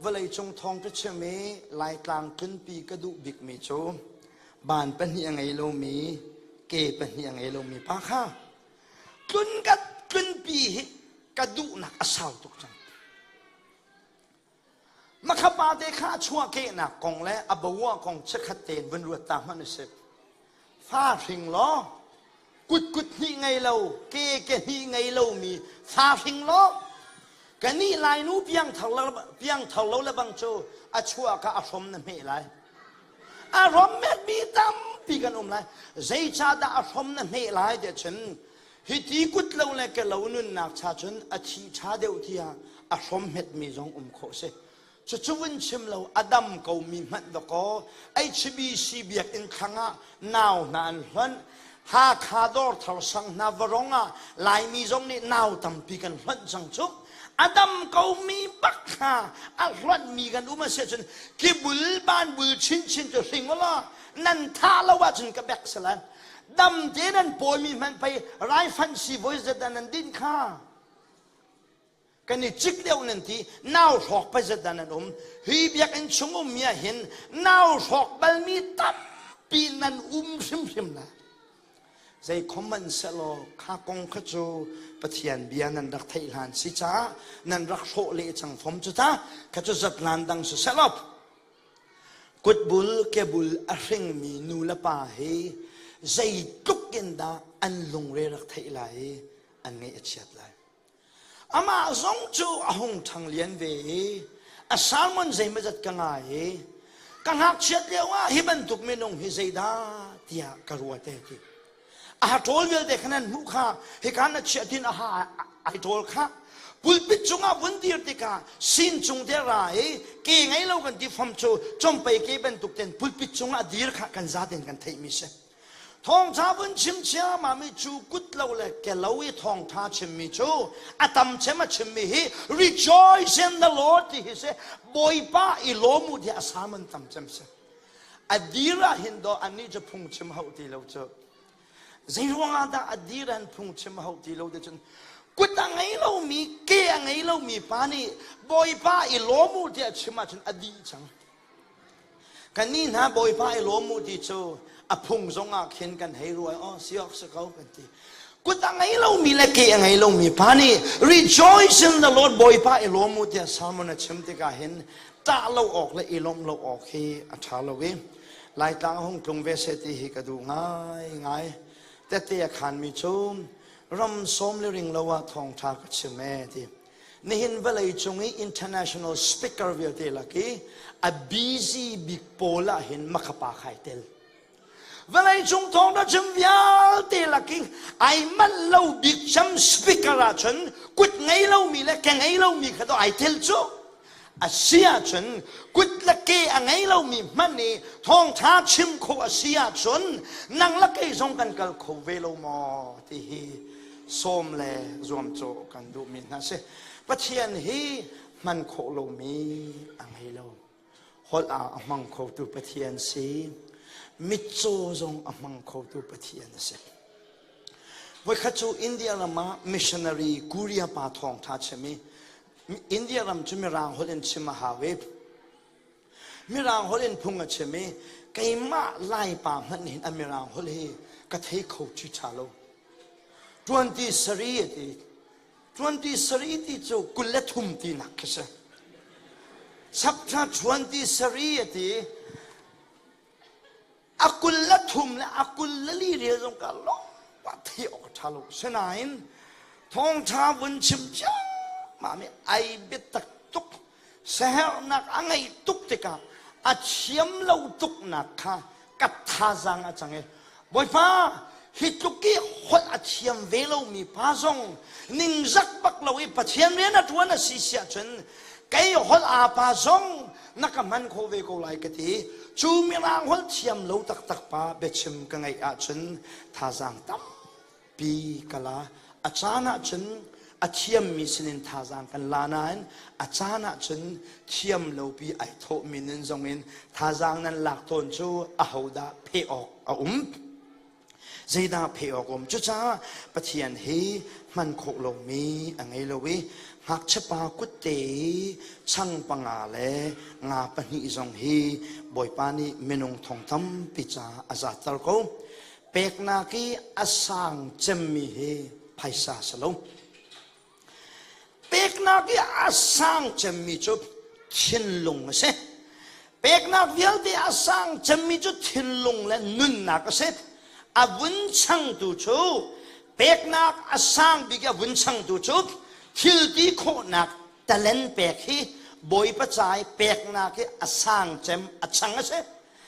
Vawleicung thawng ka chim i Laitlang tlunpi ka duh bikmi cu ban pahnih a ngei lomi, ke pahnih a ngei lomi pa kha tlun ka tlunpi hi ka duhnak a sau tuk cang. Makha pa te kha a chuahkehnak kong le a boa kong chiakhat tein vun ruat ta hmanh usih. fa hring law kutkut hnih ngei lo ke ke hnih ngei lomi fa hring law ka nih lainu piangthar lo piangthar lo le bang cu a chuah ka a hrom na hme lai a hrom mekmi tampi kan um lai zeicahdah a hrom na hme lai tiah cun hi ti kut lo le ka lo nunnak cha cun a thi ṭha deuh tiah a hrom metmi zong um khawh si Cucu in chim lo a dam komi hmanh dawkaw HBC biakinn thlang ah nau hna an hlonh. Hakha Dawrthar sang hna varong ah Laimi zong nih nau tampi kan hlonh cang cu. A dam komi bak hna a hlonhmi kan um a si ahcun kibul banbul chinchin cu hring ulaw nan thah lo ahcun ka bek si lai. Dam tein an pawimi hmanh pei raifanh siibawi zat ah nan din kha. kan i cik deuh nan ti nau hrawk pazat dan an um hi biakinn chung ummi ah hin nau hrawk balmi tampi nan um hrimhrim la zei khoman selaw kha kong kha cu pathian bia nan rak theih hlan si caah nan rak hrawh le cang fom cu ta kha cu zat hlan dang si selop kutbul kebul a hringmi nu le pa hi zei tluk in dah an lungre rak theih lai i an ngaih a chiat lai Amah zong cu a hung ṭhang lian ve i a sermon zeimazat ka ngai i ka ngakchiat lioah hi bantuk minung hi zeidah tiah ka ruate a ti. A ha ṭawl vialte khan an hmuh kha hika na chiah tin a ha ai ṭawl kha pulpit cungah vun dir tikah sin cung te ra i ke ngei lo kan ti fam cu compei ke bantuk ten pulpit cungah dir kha kan zaten kan theihmi si. Thawngṭha vun chim ciammam i cu kut lo le kelo i thawngṭha chimmi cu a tam cem a chimmi hi rejoice in the Lord ti hi si Bawipa i lawm u tiah a sam an tam cem si a dir ah hin do annih cu phungchim hau ti lo cu zei ruangah dah a dir an phungchim hau ti lo te cun kut a ngei lomi ke a ngei lomi pa nih Bawipa i lawm u tiah chim ahcun a dih cang Kannih hna Bawipa i lawm u ti cu a phung zong ah khin kan hei rual awh si awk si ko kan ti. Kut a ngei lomi le ke a ngei lomi pa nih rejoice in the Lord Bawipa i lawm u tiah sermon a chim tikah hin tah lo awk le i lawmh lo awk hi a ṭha lo i Laitlang hung tlung ve se ti hi ka duh ngai ngai. Tete a khanmi cu ram sawm le ring lo ah thawngṭha ka chim ee ti. Nihin vawlei cung i international speaker vialte lak i a busy bik pawl ah hin makapa khai tel. Vawlei cung thawngtha chim vialte lak i ai manh lo bik cam speaker ah cun kut ngei lomi le ke ngei lomi kha to ai tel cu. a si ahcun kut le ke a ngei lomi hmanh nih thawngṭha chim khawh a si ahcun nang le kei zong kan kal kho ve lo maw ti hi sawm le zuamcawh kan duhmi hna si pathian hi hman khawh lomi a ngei lo holh ah a hmang khotu pathian si mitcaw zong a hmang khotu pathian a si voikhat cu india ram ah missionary korea pa thawngṭha chim i India ram cu Mirang holh in chim a hau i Mirang holh in phung a chim i keimah Laipa hmanh nih a Mirang holh hi ka thei kho ṭi ṭha lo. Ṭuanti sari a ti. Ṭuanti sari ti cu kul le thum tinak khi si. Chapṭha ṭuanti sari a ti. a kul le thum le a kul le li rial zong ka lawngpa thi awk a ṭha lo sinain thawngṭha vun chim ciammam i ai biatak tuk siaherhnak a ngei tuk tikah a thiam lo tuknak kha ka thazaang a cang i bawipa hi tluk i holh a thiam ve lomi pa zong ningzak bak lo i pathian rian a ṭuan a si siah cun kei holh apa zong na ka hman khawh ve ko lai ka ti cu mirang holh thiam lo taktak pa biachim ka ngaih ahcun thazaang tampi ka la a caan ahcun a thiammi sinin thazaang kan la nain a caan ahcun thiam lopi ai thawhmi nun zongin thazaang nan lak tawn cu ahodah pheh awk a um Zeidah pheh awk um? Cucaah Pathian hi hman khawh lomi a ngei lo i ngakchiapa kutte i chang panga le nga pahnih zong hi Bawipa nih minung thong tampi ca a zatter ko. Peknak i a sang cemmi hi phaisa si lo. Peknak i a sang cemmi cu thinlung a si. Peknak vialte a sang cemmi cu thinlung le nunnak a si. A vun changtu cu peknak a sang bik a vun changtu cu thilti khawhnak talen pek hi Bawipa cai peknak hi a sang cem a chang a si.